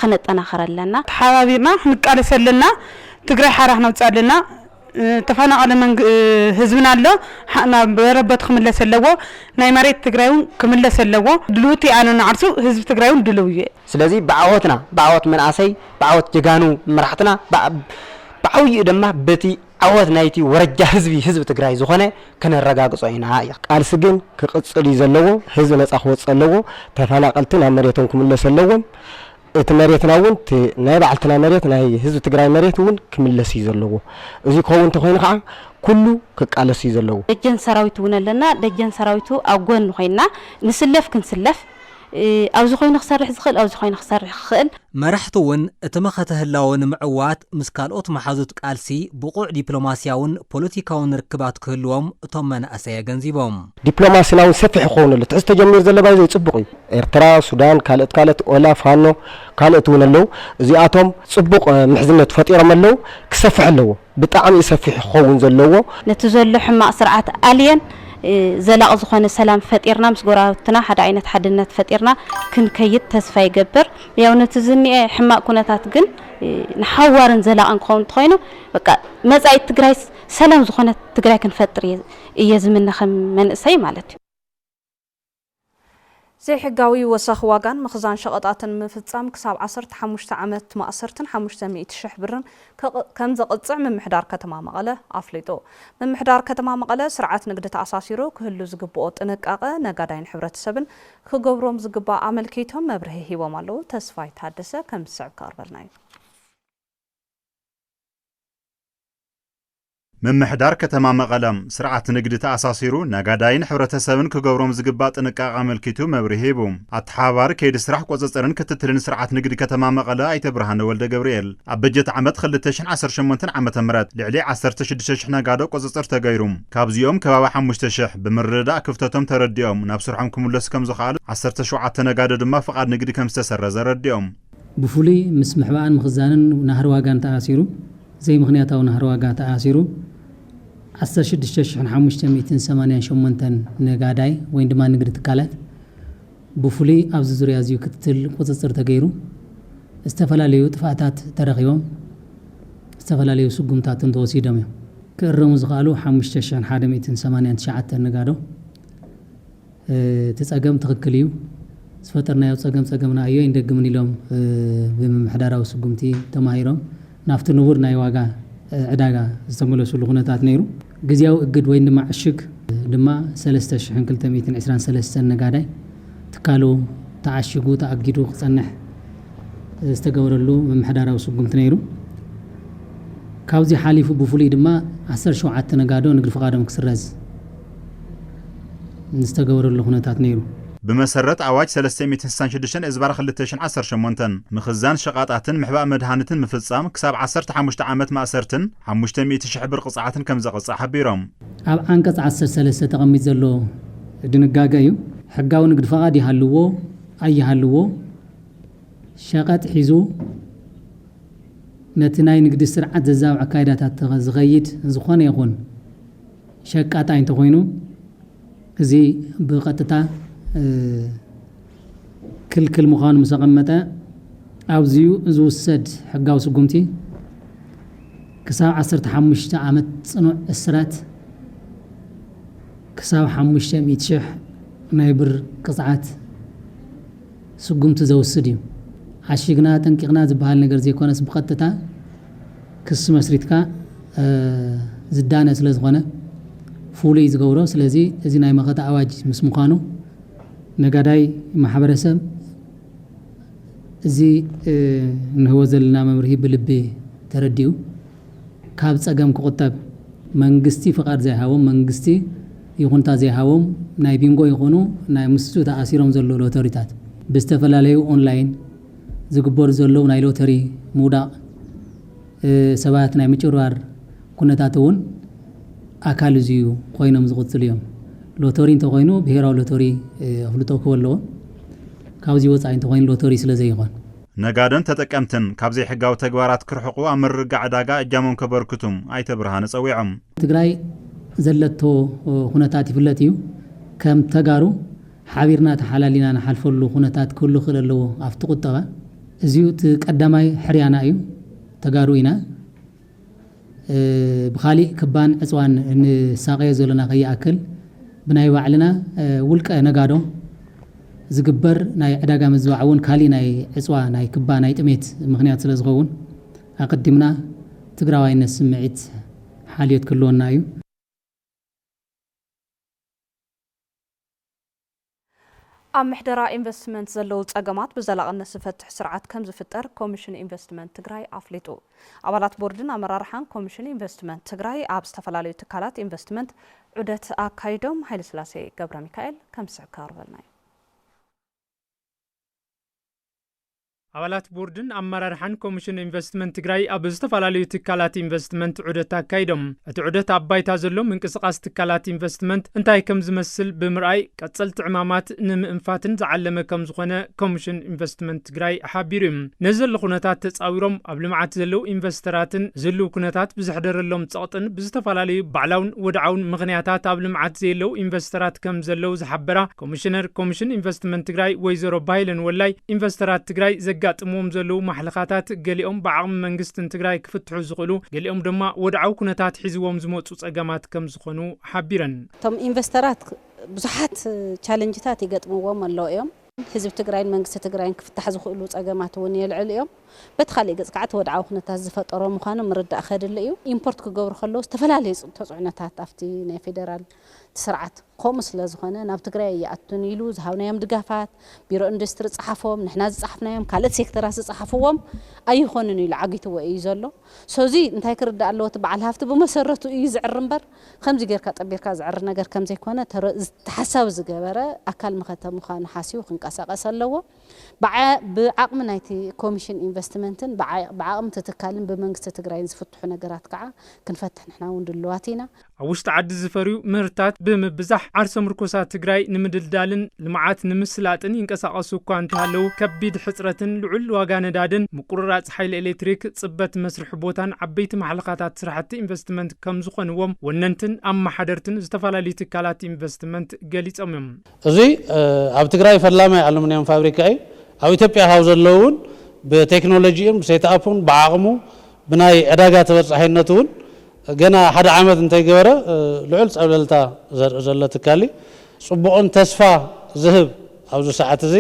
ኸነጠናኽር ኣለና። ተሓባቢርና ኽንቃለስ ኣለና። ትግራይ ሓራ ኽነውፅኣ ኣለና። ተፋናቐለ ህዝብና ኣሎ። ናብ መረበቱ ኽምለስ ኣለዎ። ናይ መሬት ትግራይ እውን ክምለስ ኣለዎ። ድልውቲ ኣነ ንዓርሱ ህዝቢ ትግራይ እውን ድልው እየ። ስለዚ ብዓወትና፣ ብዓወት መንኣሰይ፣ ብዓወት ጀጋኑ መራሕትና፣ ብዓብይኡ ደማ በቲ። ዓወት ናይቲ ወረጃ ህዝቢ ህዝቢ ትግራይ ዝኾነ ከነረጋግጾ ኢና ኢኻ። ቃልሲ ግን ክቅፅል እዩ ዘለዎ ህዝቢ ነፃ ክወፅእ ኣለዎ ተፈናቀልቲ ናብ መሬቶም ክምለሱ ኣለዎም እቲ መሬትና እውን እቲ ናይ ባዕልትና መሬት ናይ ህዝቢ ትግራይ መሬት እውን ክምለስ እዩ ዘለዎ እዙይ ክኸውን እንተኾይኑ ከዓ ኩሉ ክቃለስ እዩ ዘለዎ። ደጀን ሰራዊት እውን ኣለና ደጀን ሰራዊቱ ኣብ ጎኒ ኮይንና ንስለፍ ክንስለፍ። ኣብዚ ኮይኑ ክሰርሕ ዝኽእል ኣብዚ ኮይኑ ክሰርሕ ክኽእል። መራሕቲ እውን እቲ መኸተ ህላወ ንምዕዋት ምስ ካልኦት መሓዙት ቃልሲ ብቑዕ ዲፕሎማሲያውን ፖለቲካውን ርክባት ክህልዎም እቶም መናእሰይ ኣገንዚቦም። ዲፕሎማሲና እውን ሰፊሕ ክኸውን ኣለዎ። እቲ ሕዚ ተጀሚሩ ዘሎ ባይዘ ፅቡቕ እዩ። ኤርትራ፣ ሱዳን፣ ካልኦት ካልኦት ኦላ፣ ፋኖ፣ ካልኦት እውን ኣለዉ። እዚኣቶም ፅቡቕ ምሕዝነት ፈጢሮም ኣለዉ። ክሰፍሕ ኣለዎ። ብጣዕሚ እዩ ሰፊሑ ክኸውን ዘለዎ። ነቲ ዘሎ ሕማቕ ስርዓት ኣልየን ዘላቒ ዝኾነ ሰላም ፈጢርና ምስ ጎረባብትና ሓደ ዓይነት ሓድነት ፈጢርና ክንከይድ ተስፋ ይገብር። ያው ነቲ ዝኒኤ ሕማቕ ኩነታት ግን ንሓዋርን ዘላቕን ክኸውን እንተኾይኑ በቃ መጻኢት ትግራይስ ሰላም ዝኾነት ትግራይ ክንፈጥር እየ ዝምነ ከም መንእሰይ ማለት እዩ። ዘይሕጋዊ ወሰኽ ዋጋን ምኽዛን ሸቐጣትን ምፍፃም ክሳብ ዓሰርተ ሓሙሽተ ዓመት ማእሰርትን ሓሙሽተ ሚእቲ ሽሕ ብርን ከምዘቕፅዕ ምምሕዳር ከተማ መቐለ ኣፍሊጡ። ምምሕዳር ከተማ መቐለ ስርዓት ንግዲ ተኣሳሲሩ ክህሉ ዝግበኦ ጥንቃቐ ነጋዳይን ሕብረተሰብን ክገብሮም ዝግባእ ኣመልኪቶም መብርሂ ሂቦም ኣለው። ተስፋይ ታደሰ ከም ዝስዕብ ከቕርበልና እዩ። ምምሕዳር ከተማ መቐለ፣ ስርዓት ንግዲ ተኣሳሲሩ ነጋዳይን ሕብረተሰብን ክገብሮም ዝግባእ ጥንቃቐ ኣመልኪቱ መብርሂ ሂቡ። ኣተሓባባሪ ከይዲ ስራሕ ቁፅፅርን ክትትልን ስርዓት ንግዲ ከተማ መቐለ ኣይተ ብርሃነ ወልደገብርኤል፣ ኣብ በጀት ዓመት ክልተ ሽሕን ዓሰርተ ሸሞንተን ዓመተ ምህረት ልዕሊ ዓሰርተ ሽዱሽተ ሽሕ ነጋዶ ቁፅፅር ተገይሩ ካብዚኦም ከባቢ ሓሙሽተ ሽሕ ብምርድዳእ ክፍተቶም ተረዲኦም ናብ ስርሖም ክምለሱ ከምዝኸኣሉ ዓሰርተ ሸውዓተ ነጋዶ ድማ ፍቓድ ንግዲ ከምዝተሰረዘ ኣረዲኦም። ብፍሉይ ምስ ምሕባእን ምኽዛንን ናህሪ ዋጋን ተኣሲሩ፣ ዘይምኽንያታዊ ናህሪ ዋጋ ተኣሲሩ ዓሰርተ ሽዱሽተ ሽሕን ሓሙሽተ ሚእትን ሰማንያን ሸሞንተን ነጋዳይ ወይ ድማ ንግዲ ትካላት ብፍሉይ ኣብዚ ዙርያ እዚዩ ክትትል ቁፅፅር ተገይሩ ዝተፈላለዩ ጥፍኣታት ተረኺቦም ዝተፈላለዩ ስጉምታት እውን ተወሲዶም እዮም። ክእረሙ ዝኸኣሉ ሓሙሽተ ሽሕን ሓደ ሚእትን ሰማንያን ትሽዓተን ነጋዶ። እቲ ፀገም ትኽክል እዩ ዝፈጠርናዮ ፀገም ፀገምና ኣዮኣይንደግምን ኢሎም ብምምሕዳራዊ ስጉምቲ ተማሂሮም ናብቲ ንቡር ናይ ዋጋ ዕዳጋ ዝተመለስሉ ኩነታት ነይሩ። ግዝያዊ እግድ ወይን ድማ ዕሽግ ድማ ሰለስተ ሽሕን ክልተ ሚእትን ዕስራን ሰለስተን ነጋዳይ ትካሉ ተዓሺጉ ተኣጊዱ ክፀንሕ ዝተገበረሉ ምምሕዳራዊ ስጉምቲ ነይሩ። ካብዙይ ሓሊፉ ብፍሉይ ድማ ዓሰርተ ሸውዓተ ነጋዶ ንግድ ፍቓዶም ክስረዝ፣ ዝተገበረሉ ኩነታት ነይሩ። ብመሰረት ኣዋጅ ሰለስተ ሚእትን ስሳን ሽዱሽተን እዝባር ክልተ ሽሕን ዓሰርተ ሸሞንተን፣ ምኽዛን ሸቓጣትን ምሕባእ መድሃኒትን ምፍጻም ክሳብ ዓሰርተ ሓሙሽተ ዓመት ማእሰርትን ሓሙሽተ ሚእቲ ሽሕ ብር ቕጽዓትን ከም ዘቕጽዕ ሓቢሮም። ኣብ ዓንቀጽ ዓሰርተ ሰለስተ ተቐሚጡ ዘሎ ድንጋገ እዩ። ሕጋዊ ንግድ ፈቓድ ይሃልዎ ኣይሃልዎ፣ ሸቐጥ ሒዙ ነቲ ናይ ንግዲ ስርዓት ዘዛብዕ ኣካይዳታት ዝኸይድ ዝኾነ ይኹን፣ ሸቃጣይ እንተኾይኑ እዚ ብቐጥታ ክልክል ምዃኑ ምስ ኣቐመጠ፣ ኣዚዩ ዝውሰድ ሕጋዊ ስጉምቲ ክሳብ ዓሰርተ ሓሙሽተ ዓመት ጽኑዕ እስራት ክሳብ ሓሙሽተ ሚእቲ ሽሕ ናይ ብር ቅጽዓት ስጉምቲ ዘውስድ እዩ። ዓሺግና ኣጠንቂቕና ዝበሃል ነገር ዘይኮነስ ብቐጥታ፣ ክሲ መስሪትካ ዝዳነ ስለ ዝኾነ ፍሉይ ዝገብሮ ስለዚ እዚ ናይ መኸተ ኣዋጅ ምስ ምዃኑ ነጋዳይ ማሕበረሰብ እዚ እንህቦ ዘለና መምርሂ ብልቢ ተረዲኡ ካብ ፀገም ክቑጠብ መንግስቲ ፍቓድ ዘይሃቦም መንግስቲ ይኹንታ ዘይሃቦም ናይ ቢንጎ ይኹኑ ናይ ምስኡ ተኣሲሮም ዘለዉ ሎተሪታት ብዝተፈላለዩ ኦንላይን ዝግበሩ ዘለዉ ናይ ሎተሪ ምውዳቕ ሰባት ናይ ምጭብርባር ኩነታት እውን ኣካል እዚ'ዩ ኮይኖም ዝቕፅሉ እዮም። ሎተሪ እንተኾይኑ ብሄራዊ ሎተሪ ኣፍልጦ ክህቦ ኣለዎ። ካብዚ ወፃኢ እንተኾይኑ ሎተሪ ስለዘይኾን። ነጋዶን ተጠቀምትን ካብ ዘይሕጋዊ ተግባራት ክርሕቑ ኣብ ምርግጋዕ ዕዳጋ እጃሞም ከበርክቱ ኣይተ ብርሃነ ፀዊዖም። ትግራይ ዘለቶ ኹነታት ይፍለጥ እዩ። ከም ተጋሩ ሓቢርና ተሓላሊና ንሓልፈሉ ኩነታት ክህሉ ይኽእል ኣለዎ ኣብቲ ቁጠባ እዚዩ እቲ ቀዳማይ ሕርያና እዩ ተጋሩ ኢና ብኻሊእ ክባን ዕፅዋን ንሳቐዮ ዘሎና ከይኣክል ብናይ ባዕልና ውልቀ ነጋዶ ዝግበር ናይ ዕዳጋ ምዝባዕ እውን ካሊእ ናይ ዕፅዋ ናይ ክባ ናይ ጥሜት ምኽንያት ስለ ዝኸውን ኣቐዲምና ትግራዋይነት ስምዒት ሓልዮት ክህልወና እዩ። ኣብ ምሕደራ ኢንቨስትመንት ዘለዉ ፀገማት ብዘላቕነት ዝፈትሕ ስርዓት ከምዝፍጠር ኮሚሽን ኢንቨስትመንት ትግራይ ኣፍሊጡ። ኣባላት ቦርድን ኣመራርሓን ኮሚሽን ኢንቨስትመንት ትግራይ ኣብ ዝተፈላለዩ ትካላት ኢንቨስትመንት ዑደት ኣካይዶም። ሃይለስላሴ ገብረሚካኤል ከም ዝስዕብ ከቕርበልና እዩ። ኣባላት ቦርድን ኣመራርሓን ኮሚሽን ኢንቨስትመንት ትግራይ ኣብ ዝተፈላለዩ ትካላት ኢንቨስትመንት ዑደት ኣካይዶም። እቲ ዑደት ኣብ ባይታ ዘሎ ምንቅስቓስ ትካላት ኢንቨስትመንት እንታይ ከምዝመስል ብምርኣይ ቀፀልቲ ዕማማት ንምእንፋትን ዝዓለመ ከምዝኾነ ኮሚሽን ኢንቨስትመንት ትግራይ ሓቢሩ እዩ። ነዚ ዘሎ ኩነታት ተፃዊሮም ኣብ ልምዓት ዘለው ኢንቨስተራትን ዝህልው ኩነታት ብዘሕደረሎም ፀቕጥን ብዝተፈላለዩ ባዕላውን ወድዓውን ምኽንያታት ኣብ ልምዓት ዘየለው ኢንቨስተራት ከምዘለው ዝሓበራ ኮሚሽነር ኮሚሽን ኢንቨስትመንት ትግራይ ወይዘሮ ባይለን ወላይ፣ ኢንቨስተራት ትግራይ ዘጋጥምዎም ዘለዉ ማሕለኻታት ገሊኦም ብዓቕሚ መንግስትን ትግራይ ክፍትሑ ዝኽእሉ ገሊኦም ድማ ወድዓዊ ኩነታት ሒዝዎም ዝመፁ ፀገማት ከምዝኾኑ ሓቢረን። እቶም ኢንቨስተራት ብዙሓት ቻለንጅታት ይገጥምዎም ኣለዉ እዮም። ህዝቢ ትግራይን መንግስቲ ትግራይን ክፍታሕ ዝኽእሉ ፀገማት እውን የልዕሉ እዮም። በቲ ካሊእ ገፅ ከዓ እቲ ወድዓዊ ኩነታት ዝፈጠሮ ምዃኑ ምርዳእ ከድሊ እዩ። ኢምፖርት ክገብሩ ከለዉ ዝተፈላለዩ ተፅዕኖታት ኣብቲ ናይ ፌደራል። እቲ ስርዓት ከምኡ ስለ ዝኾነ ናብ ትግራይ ኣይኣቱን ኢሉ ዝሃብናዮም ድጋፋት ቢሮ ኢንዱስትሪ ዝፀሓፎም፣ ንሕና ዝፀሓፍናዮም፣ ካልእት ሴክተራት ዝፀሓፍዎም ኣይኾኑን ኢሉ ዓጊትዎ እዩ ዘሎ። so እዚ እንታይ ክርዳእ ኣለዎ እቲ በዓል ሃፍቲ ብመሰረቱ እዩ ዝዕሪ እምበር ከምዚ ገይርካ ጠቢርካ ዝዕሪ ነገር ከምዘይኮነ ተሓሳቢ ዝገበረ ኣካል መኸተ ምዃኑ ሓሲቡ ክንቀሳቐስ ኣለዎ። ብዓቕሚ ናይቲ ኮሚሽን ኢንቨስትመንትን ብዓቕሚ እቲ ትካልን ብመንግስቲ ትግራይን ዝፍትሑ ነገራት ከዓ ክንፈትሕ ንሕና እውን ድሉዋት ኢና። ኣብ ውሽጢ ዓዲ ዝፈርዩ ምህርትታት ብምብዛሕ ዓርሰ ምርኮሳት ትግራይ ንምድልዳልን ልምዓት ንምስላጥን ይንቀሳቐሱ እኳ እንተሃለዉ ከቢድ ሕፅረትን ልዑል ዋጋ ነዳድን ምቁርራፅ ሓይሊ ኤሌክትሪክ ፅበት መስርሒ ቦታን ዓበይቲ ማሕለኻታት ስራሕቲ ኢንቨስትመንት ከምዝኾንዎም ወነንትን ኣመሓደርትን ዝተፈላለዩ ትካላት ኢንቨስትመንት ገሊፆም እዮም። እዚ ኣብ ትግራይ ፈላማይ ኣሉሚንየም ፋብሪካ እዩ። ኣብ ኢትዮጵያ ካብ ዘለዉ እውን ብቴክኖሎጂኡን ብሴትኣፑን ብዓቕሙ ብናይ ዕዳጋ ተበፃሒነቱ እውን ገና ሓደ ዓመት እንተይገበረ ልዑል ፀብለልታ ዘርኢ ዘሎ ትካል'ዩ። ፅቡቕን ተስፋ ዝህብ ኣብዚ ሰዓት እዚ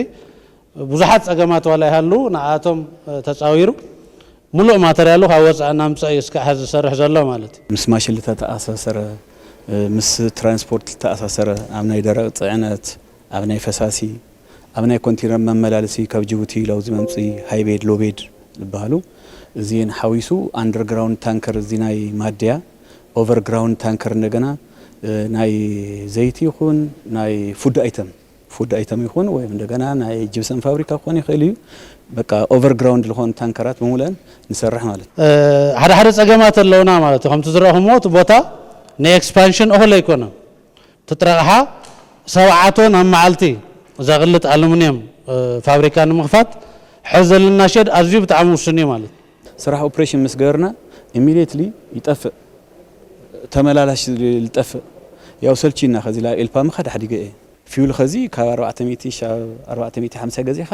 ብዙሓት ፀገማት ዋላ ይሃልዉ ንዓኣቶም ተፃዊሩ ሙሉእ ማተርያሉ ካብ ወፃኢ እናምፀ እዩ እስካዕ ሐዚ ዝሰርሕ ዘሎ ማለት እዩ። ምስ ማሽን ልተተኣሳሰረ፣ ምስ ትራንስፖርት ልተኣሳሰረ ኣብ ናይ ደረቕ ፅዕነት፣ ኣብ ናይ ፈሳሲ፣ ኣብ ናይ ኮንቲነር መመላለሲ ካብ ጂቡቲ ላው ዝመምፂ ሃይቤድ ሎቤድ ልበሃሉ እዚን ሓዊሱ ኣንደር ግራውንድ ታንከር እዚ ናይ ማድያ ኦቨር ግራውንድ ታንከር እንደገና ናይ ዘይቲ ይኹን ናይ ፉድ ኣይተም ፉድ ኣይተም ይኹን ወይም እንደገና ናይ ጅብሰም ፋብሪካ ክኾን ይኽእል እዩ በቃ ኦቨር ግራውንድ ልኾን ታንከራት ብምሉእን ንሰርሕ ማለት ሓደ ሓደ ፀገማት ኣለውና ማለት እዩ ከምቲ ዝረእኹምዎ እቲ ቦታ ንኤክስፓንሽን እኹል ኣይኮነን ትጥረቕሓ ሰብዓ ቶን ኣብ መዓልቲ ዘቕልጥ ኣሉሚንየም ፋብሪካ ንምኽፋት ሕዚ ዘለና ሼድ ኣዝዩ ብጣዕሚ ውሱን እዩ ማለት። ስራሕ ኦፕሬሽን ምስ ገበርና ኢሚድየትሊ ይጠፍእ ተመላላሽ ልጠፍእ ያው ሰልቺዩና ከዚ ላብ ኤልፓ ምኻድ ሓዲገ እየ። ፊውል ከዚ ካብ ኣርባዕተ ሚእቲ ክሻብ ኣርባዕተ ሚእቲ ሓምሳ ገዚእኻ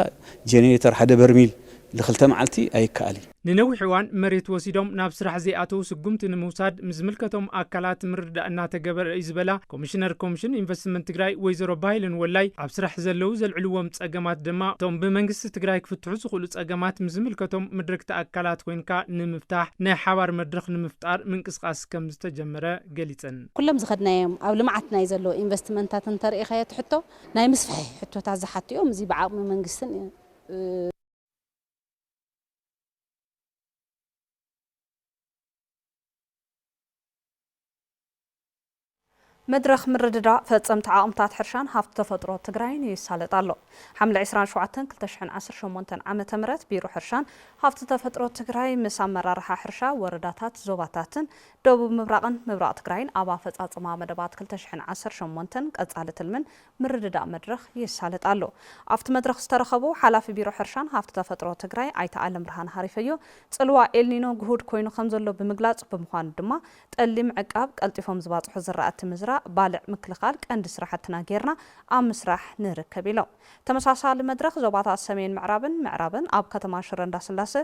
ጀኔሬተር ሓደ በርሚል ልክልተ መዓልቲ ኣይከኣል እዩ። ንነዊሕ እዋን መሬት ወሲዶም ናብ ስራሕ ዘይኣተው ስጉምቲ ንምውሳድ ምስ ዝምልከቶም ኣካላት ምርድዳእ እናተገበረ እዩ ዝበላ ኮሚሽነር ኮሚሽን ኢንቨስትመንት ትግራይ ወይዘሮ ባህይለን ወላይ ኣብ ስራሕ ዘለው ዘልዕልዎም ፀገማት ድማ እቶም ብመንግስቲ ትግራይ ክፍትሑ ዝኽእሉ ፀገማት ምስ ዝምልከቶም ምድረግቲ ኣካላት ኮይንካ ንምፍታሕ ናይ ሓባር መድረኽ ንምፍጣር ምንቅስቓስ ከምዝተጀመረ ገሊፀን። ኩሎም ዝኸድናዮም ኣብ ልምዓት ናይ ዘለዉ ኢንቨስትመንታት እንተርኢኻዮ እቲ ሕቶ ናይ ምስፍሒ ሕቶታት ዝሓቱ እዮም። እዚ ብዓቕሚ መንግስትን ብ። መድረኽ ምርድዳእ ፈፀምቲ ዓቕምታት ሕርሻን ሃፍቲ ተፈጥሮ ትግራይን ይሳለጥ ኣሎ። ሓምለ ዕስራን ሸውዓተን ክልተ ሽሕን ዓሰርተ ሸሞንተን ዓመተ ምህረት ቢሮ ሕርሻን ሃፍቲ ተፈጥሮ ትግራይ ምስ ኣመራርሓ ሕርሻ ወረዳታት ዞባታትን ደቡብ ምብራቕን ምብራቕ ትግራይን ኣብ ኣፈፃፅማ መደባት ክልተ ሽሕን ዓሰርተ ሸሞንተን ቀፃሊ ትልምን ምርድዳእ መድረኽ ይሳለጥ ኣሎ። ኣብቲ መድረኽ ዝተረኸቡ ሓላፊ ቢሮ ሕርሻን ሃፍቲ ተፈጥሮ ትግራይ ኣይተ ኣለምብርሃን ሃሪፈዮ፣ ፅልዋ ኤልኒኖ ግሁድ ኮይኑ ከምዘሎ ብምግላፅ፣ ብምዃኑ ድማ ጠሊ ምዕቃብ፣ ቀልጢፎም ዝባፅሑ ዝራእቲ ምዝራእ፣ ባልዕ ምክልኻል ቀንዲ ስራሕትና ገይርና ኣብ ምስራሕ ንርከብ ኢሎም። ተመሳሳሊ መድረኽ ዞባታት ሰሜን ምዕራብን ምዕራብን ኣብ ከተማ ሽረ እንዳስላሰ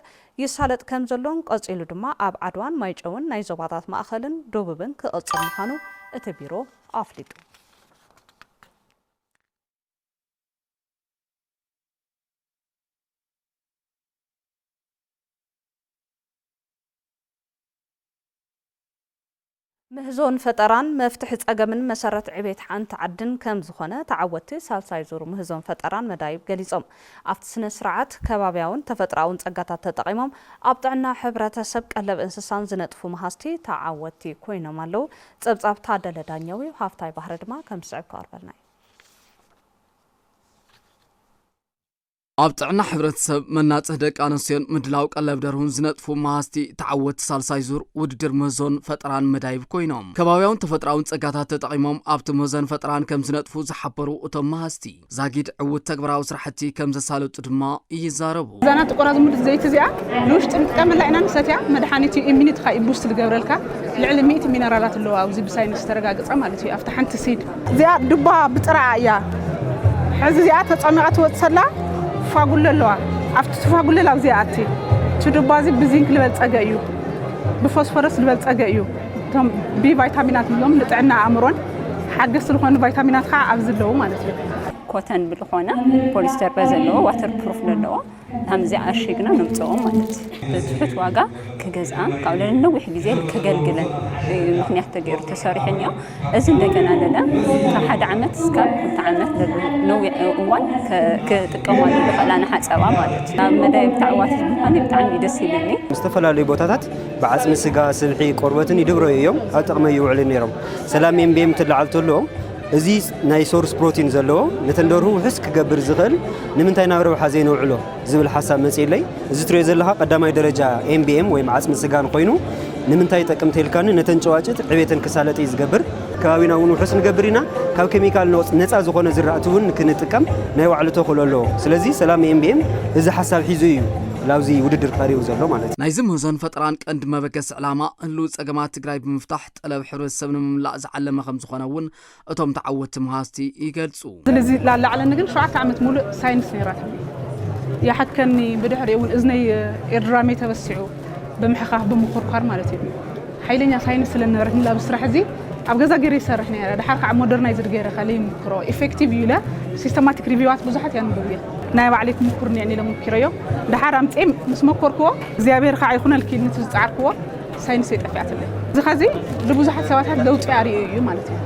ይሳለጥ ከምዘሎን ቀፂሉ ድማ ኣብ ዓድዋን ማይጨውን ናይ ዞባታት ማእኸልን ዶቡብን ክቕፅል ምዃኑ እቲ ቢሮ ኣፍሊጡ። ምህዞን ፈጠራን መፍትሒ ፀገምን መሰረት ዕቤት ሓንቲ ዓድን ከምዝኾነ ተዓወትቲ ሳልሳይ ዙር ምህዞን ፈጠራን መዳይብ ገሊፆም። ኣብቲ ስነ ስርዓት፣ ከባብያውን ተፈጥሮኣውን ፀጋታት ተጠቒሞም ኣብ ጥዕና ሕብረተሰብ፣ ቀለብ እንስሳን ዝነጥፉ መሃዝቲ ተዓወትቲ ኮይኖም ኣለው ጸብጻብ ታደለ ዳኘው'ዩ፣ ሃፍታይ ባህሪ ድማ ከም ዝስዕብ ክቐርበልና'ዩ። ኣብ ጥዕና ሕብረተሰብ፣ መናፅህ ደቂ ኣነስትዮን ምድላው ቀለብ ደርሁን ዝነጥፉ መሃዝቲ ተዓወትቲ ሳልሳይ ዙር ውድድር ምህዞን ፈጠራን መዳይብ ኮይኖም ከባብያውን ተፈጥሮኣውን ፀጋታት ተጠቒሞም ኣብቲ ምህዞን ፈጠራን ከምዝነጥፉ ዝሓበሩ እቶም መሃዝቲ ዛጊድ ዕዉት ተግባራዊ ስራሕቲ ከም ዘሳልጡ ድማ ይዛረቡ። እዛ ናብቲ ቆራ ዝሙልእ ዘይቲ እዚኣ ንውሽጢ ንጥቀመላ ኢና ንሰትያ መድሓኒት እዩ ኢሚኒትኻ እዩ ቡስት ዝገብረልካ ልዕሊ ሚእቲ ሚነራላት ኣለዋ ኣብዚ ብሳይንስ ዝተረጋገፀ ማለት እዩ ኣብቲ ሓንቲ ሲድ እዚኣ ዱባ ብጥራኣ እያ ሕዚ እዚኣ ተፀሚቓ ትወፅሰላ ፋጉሎ ኣለዋ ኣብቲ ትፋጉለል ኣብዚኣ ኣቲ እቲ ዱባ እዚ ብዚንክ ዝበልፀገ እዩ ብፎስፎረስ ዝበልፀገ እዩ እቶም ቢ ቫይታሚናት ንብሎም ንጥዕና ኣእምሮን ሓገዝቲ ዝኾኑ ቫይታሚናት ከዓ ኣብዚ ኣለዉ ማለት እዩ። ኮተን ብልኾነ ፖሊስተር በዘለዎ ዋተር ፕሩፍ ለለዎ ከምዚ ኣሽግና ነምፅኦ ማለት እዩ። ብትሑት ዋጋ ክገዝኣ ካብኡ ለለ ነዊሕ ግዜ ከገልግለን እዩ ምክንያት ተገይሩ ተሰሪሑ እኒኦ። እዚ እንደገና ለለ ካብ ሓደ ዓመት እስካብ ክልተ ዓመት ለሉ ነዊሕ እዋን ክጥቀማሉ ዝኽእላ ንሓፀባ ማለት እዩ። ኣብ መዳይ ብታዕዋት ዝኾነ ብጣዕሚ እዩ ደስ ይብልኒ። ዝተፈላለዩ ቦታታት ብዓጽሚ ስጋ፣ ስብሒ፣ ቆርበትን ይድብረዩ እዮም፣ ኣብ ጥቕመ ይውዕሉ ነይሮም። ሰላም ኤምቤም ትለዓል ተሎ፣ እዚ ናይ ሶርስ ፕሮቲን ዘለዎ ነተን ደርሁ ውሑስ ክገብር ዝኽእል ንምንታይ ናብ ረብሓ ዘይነውዕሎ ዝብል ሓሳብ መጺኡለይ። እዚ ትርእዮ ዘለኻ ቀዳማይ ደረጃ ኤምቤም ወይም ዓጽሚ ስጋን ኮይኑ ንምንታይ ይጠቅም ተልካኒ ነተን ጨዋጭት ዕቤተን ክሳለጥ እዩ ዝገብር። ከባቢና እውን ውሑስ ንገብር ኢና። ካብ ኬሚካል ነፃ ዝኾነ ዝራእቲ እውን ንክንጥቀም ናይ ባዕሉ ተኽእሎ ኣለዎ። ስለዚ ሰላም ኤምቢኤም እዚ ሓሳብ ሒዙ እዩ ላብዚ ውድድር ቀሪቡ ዘሎ ማለት እዩ። ናይዚ ምህዞን ፈጠራን ቀንዲ መበገሲ ዕላማ ህልዊ ፀገማት ትግራይ ብምፍታሕ ጠለብ ሕብረተሰብ ንምምላእ ዝዓለመ ከምዝኾነ እውን እቶም ተዓወትቲ መሃዝቲ ይገልፁ። ይገልጹ። ስለዚ ላላዕለኒ ግን ሸውዓተ ዓመት ሙሉእ ሳይንስ ነይራትኒ። ይሓትከኒ ብድሕሪኡ እውን እዝነይ ኤርድራመይ ተበሲዑ ብምሕኻኽ ብምኹርኳር ማለት እዩ። ሓይለኛ ሳይንስ ስለ ዝነበረትኒ ላብዚ ስራሕ እዚ ኣብ ገዛ ገይረ ይሰርሕ ነይረ። ደሓር ከዓ ሞደርናይዝድ ገይረ ከ ለይምክሮ ኢፌክቲቭ እዩ ኢለ ሲስተማቲክ ሪቪዋት ብዙሓት ያንብብ እየ። ናይ ባዕለይ ክምኩር እኒኤኒ ኢለ ሞኪረዮ ደሓር ኣምፂኤ ምስ መኮርክዎ እግዚኣብሔር ከዓ ይኹነልኪ ንቲ ዝፀዓርክዎ ሳይንሰይ ጠፊኣትለይ። እዚ ከዚ ንብዙሓት ሰባታት ለውጢ ኣርእዩ እዩ ማለት እዩ።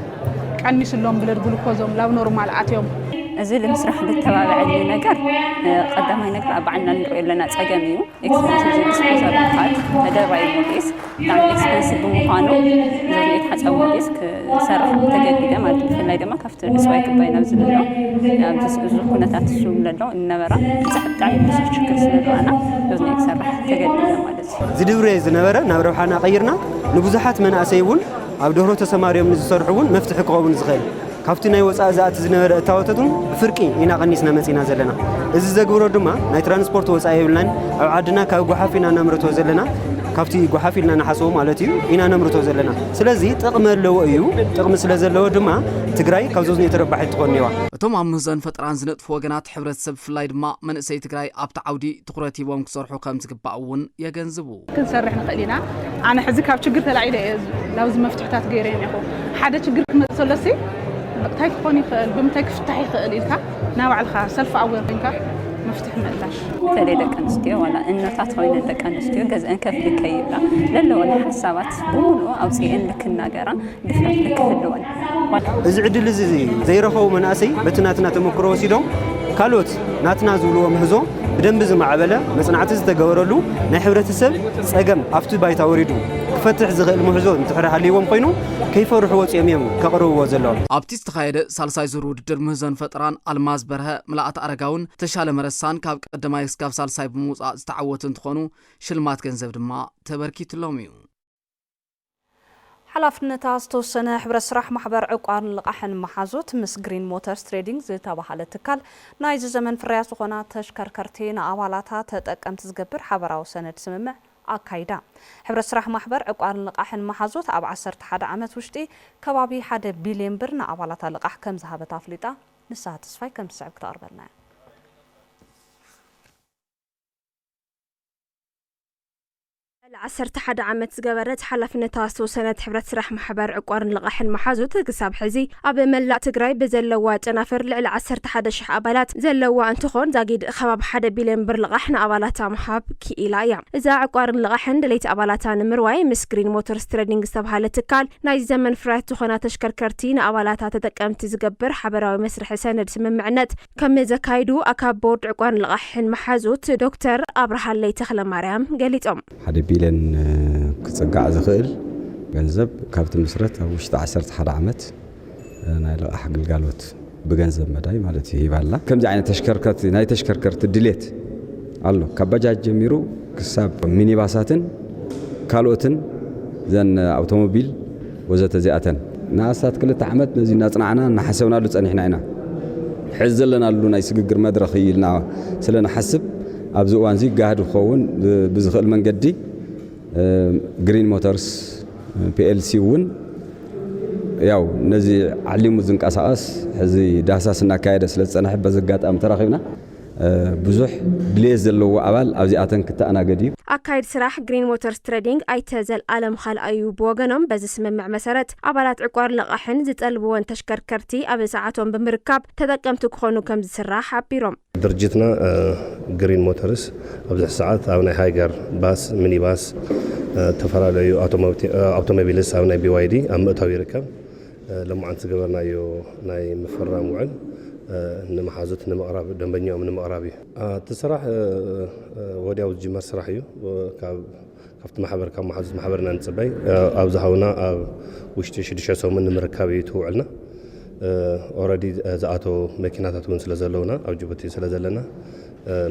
ቀኒስሎም ብለድ ግሉኮዞም ላብ ኖርማል ኣትዮም። እዚ ልምስራሕ ልተባበዐኒ ነገር ቐዳማይ ነገር ኣብ ባዕልና ንሪኦ ኣለና ፀገም እዩ ኤክስፐንሲቭ እዚ ዲስፖዛብል ፓድ ተደርባዪ ሞዴስ ብጣዕሚ ኤክስፐንሲቭ ብምዃኑ እዞም ቤት ሓፃብ ሞዴስ ክሰርሖም ተገዲደ ማለት እዩ ብፍላይ ድማ ካብቲ ንስዋይ ክባይ ናብ ዝብሎ ኣብዚ እዚ ኩነታት እሱ ለሎ እነበራ ብዛሕ ብጣዕሚ ብዙሕ ችግር ስለረኣና እዞም ክሰርሕ ተገዲደ ማለት እዩ ዝድብሬ ዝነበረ ናብ ረብሓና ቀይርና ንብዙሓት መናእሰይ እውን ኣብ ደርሆ ተሰማርዮም ንዝሰርሑ እውን መፍትሒ ክኸውን ዝኽእል ካብቲ ናይ ወፃኢ ዝኣቲ ዝነበረ እታወተት እውን ብፍርቂ ኢና ቀኒስና መፂእና ዘለና። እዚ ዘግብሮ ድማ ናይ ትራንስፖርት ወፃኢ የብልናን። ኣብ ዓድና ካብ ጓሓፍ ኢና ነምርቶ ዘለና። ካብቲ ጓሓፍ ኢልና ንሓስቦ ማለት እዩ ኢና ነምርቶ ዘለና። ስለዚ ጥቕሚ ኣለዎ እዩ። ጥቕሚ ስለዘለዎ ድማ ትግራይ ካብ ዞዝኒኦ ተረባሒት ትኾን እየዋ። እቶም ኣብ ምህዞን ፈጠራን ዝነጥፉ ወገናት ሕብረተሰብ ብፍላይ ድማ መንእሰይ ትግራይ ኣብቲ ዓውዲ ትኹረት ሂቦም ክሰርሑ ከምዝግባእ እውን የገንዝቡ። ክንሰርሕ ንኽእል ኢና። ኣነ ሕዚ ካብ ችግር ተላዒለ እየ ናብዚ መፍትሕታት ገይረ እኒኹ። ሓደ ችግር ክመፅእ ከሎ ሲ እንታይ ክኾን ይኽእል ብምንታይ ክፍታሕ ይኽእል ኢልካ ናባዕልኻ ሰልፍ ኣዌር ኮይንካ መፍትሒ ምእላሽ በተለይ ደቂ ኣንስትዮ ዋላ እኖታት ኮይነን ደቂ ኣንስትዮ ገዝአን ከፍሊ ከይብላ ለለወን ሓሳባት ብምሉኡ ኣውፂኤን ልክናገራ ብፍላይ ደቂ ህልዋን ዋላ እዚ ዕድል እዚ ዘይረኸቡ መናእሰይ በቲ ናትና ተመክሮ ወሲዶም ካልኦት ናትና ዝብልዎ ምህዞ ብደንቢ ዝማዕበለ መፅናዕቲ ዝተገበረሉ ናይ ሕብረተሰብ ፀገም ኣብቲ ባይታ ወሪዱ ክፈትሕ ዝኽእል ምህዞ እንድሕር ሃልይዎም ኮይኑ ከይፈርሑ ወፂኦም እዮም ከቕርብዎ ዘለዎም። ኣብቲ ዝተኻየደ ሳልሳይ ዙር ውድድር ምህዞን ፈጠራን ኣልማዝ በርሀ፣ ምልኣት ኣረጋውን ተሻለ መረሳን ካብ ቀዳማይ እስካብ ሳልሳይ ብምውፃእ ዝተዓወቱ እንትኾኑ ሽልማት ገንዘብ ድማ ተበርኪትሎም እዩ። ሓላፍነታ ዝተወሰነ ሕብረት ስራሕ ማሕበር ዕቋርን ልቓሕን መሓዙት ምስ ግሪን ሞተርስ ትሬዲንግ ዝተበሃለ ትካል ናይዚ ዘመን ፍርያት ዝኾና ተሽከርከርቲ ንኣባላታ ተጠቀምቲ ዝገብር ሓበራዊ ሰነድ ስምምዕ ኣካይዳ። ሕብረት ስራሕ ማሕበር ዕቋርን ልቓሕን መሓዙት ኣብ ዓሰርተ ሓደ ዓመት ውሽጢ ከባቢ ሓደ ቢልየን ብር ንኣባላታ ልቓሕ ከምዝሃበት ኣፍሊጣ። ንስሃ ተስፋይ ከምቲ ዝስዕብ ክተቕርበልና እያ። ልዕሊ ዓሰርተ ሓደ ዓመት ዝገበረት ሓላፍነታ ዝተወሰነት ሕብረት ስራሕ ማሕበር ዕቋርን ልቓሕን መሓዙት ክሳብ ሕዚ ኣብ መላእ ትግራይ ብዘለዋ ጨናፍር ልዕሊ ዓሰርተ ሓደ ሽሕ ኣባላት ዘለዋ እንትኾን ዛጊድ ኸባቢ ሓደ ቢልዮን ብር ልቓሕ ንኣባላታ ምሃብ ኪኢላ እያ። እዛ ዕቋርን ልቓሕን ደለይቲ ኣባላታ ንምርዋይ ምስ ግሪን ሞተርስ ትረዲንግ ዝተብሃለ ትካል ናይዚ ዘመን ፍርያት ዝኾና ተሽከርከርቲ ንኣባላታ ተጠቀምቲ ዝገብር ሓበራዊ መስርሒ ሰነድ ስምምዕነት ከም ዘካይዱ ኣካቢ ቦርድ ዕቋርን ልቓሕን መሓዙት ዶክተር ኣብርሃለይ ተኽለማርያም ገሊፆም። ሓደ ቢልዮን ክፅጋዕ ዝኽእል ገንዘብ ካብ ትምስረት ኣብ ውሽጢ ዓሰርተ ሓደ ዓመት ናይ ልቓሕ ግልጋሎት ብገንዘብ መዳይ ማለት እዩ ሂባ ኣላ። ከምዚ ዓይነት ተሽከርከርቲ ናይ ተሽከርከርቲ ድሌት ኣሎ። ካብ ባጃጅ ጀሚሩ ክሳብ ሚኒባሳትን ካልኦትን እዘን ኣውቶሞቢል፣ ወዘተ እዚኣተን ንኣስታት ክልተ ዓመት ነዚ እናጽናዕና እናሓሰብናሉ ጸኒሕና ኢና። ሕዚ ዘለናሉ ናይ ስግግር መድረኽ እዩ ኢልና ስለ ንሓስብ ኣብዚ እዋንዚ ጋህዲ ክኸውን ብዝኽእል መንገዲ ግሪን ሞተርስ ፒኤልሲ እውን ያው ነዚ ዓሊሙ ዝንቀሳቐስ ሕዚ ዳህሳስ እናካየደ ስለ ዝጸንሐ በዚ ኣጋጣሚ ተራኺብና ብዙሕ ድልየት ዘለዎ ኣባል ኣብዚኣተን ክተኣናገድ እዩ። ኣካይድ ስራሕ ግሪን ሞተርስ ትረዲንግ ኣይተ ዘልኣለም ኻልኣዩ ብወገኖም በዚ ስምምዕ መሰረት ኣባላት ዕቋር ልቓሕን ዝጠልብወን ተሽከርከርቲ ኣብ ሰዓቶም ብምርካብ ተጠቀምቲ ክኾኑ ከምዝስራሕ ሓቢሮም። ድርጅትና ግሪን ሞተርስ ኣብዚ ሕዚ ሰዓት ኣብ ናይ ሃይገር ባስ፣ ሚኒባስ፣ ዝተፈላለዩ ኣውቶሞቢልስ ኣብ ናይ ቢዋይዲ ኣብ ምእታው ይርከብ። ሎማዓንቲ ዝገበርናዮ ናይ ምፍርራም ውዕል ንመሓዙት ንምቕራብ ደንበኛኦም ንምቕራብ እዩ። እቲ ስራሕ ወዲያው ዝጅመር ስራሕ እዩ። ካብቲ ማሕበር ካብ መሓዙት ማሕበር ኢና ንፅበይ ኣብ ዝሃቡና ኣብ ውሽጢ ሽዱሽተ ሰሙን ንምርካብ እዩ እቲ ውዕልና። ኦረዲ ዝኣተው መኪናታት እውን ስለዘለውና ኣብ ጅቡቲ ስለዘለና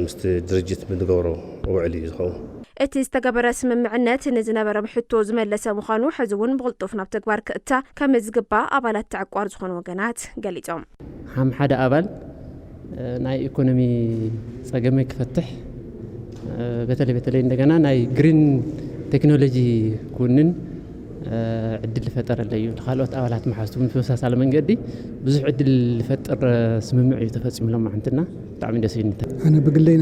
ምስቲ ድርጅት ብንገብሮ ውዕል እዩ ዝኸውን። እቲ ዝተገበረ ስምምዕነት ንዝነበረም ሕቶ ዝመለሰ ምዃኑ ሕዚ እውን ብቕልጡፍ ናብ ተግባር ክእታ ከምዝግባእ ኣባላት ተዕቋር ዝኾኑ ወገናት ገሊፆም። ሓም ሓደ ኣባል ናይ ኢኮኖሚ ፀገመ ክፈትሕ በተለይ በተለይ እንደገና ናይ ግሪን ቴክኖሎጂ ክውንን ዕድል ዝፈጠረለ እዩ። ንካልኦት ኣባላት መሓዝቱ ብተመሳሳሊ መንገዲ ብዙሕ ዕድል ዝፈጥር ስምምዕ እዩ ተፈፂሙሎም ማዓንትና። ብጣዕሚ ደስ ኢሉኒ። ኣነ ብግለይ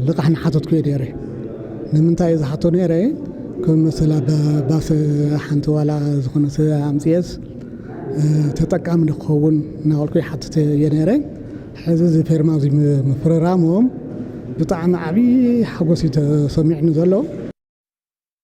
ልቓሕ ምሓተትኩ እየ ነይረ። ንምንታይ እየ ዝሓቶ ነይረ ከም መሰላ ባስ ሓንቲ ዋላ ዝኾነ ሰብ ኣምፅኤስ ተጠቃሚ ንክኸውን እናበልኩ ይሓትት እየ ነይረ። ሕዚ እዚ ፌርማ እዚ ምፍርራሞም ብጣዕሚ ዓብዪ ሓጎስ እዩ ተሰሚዑኒ ዘሎ።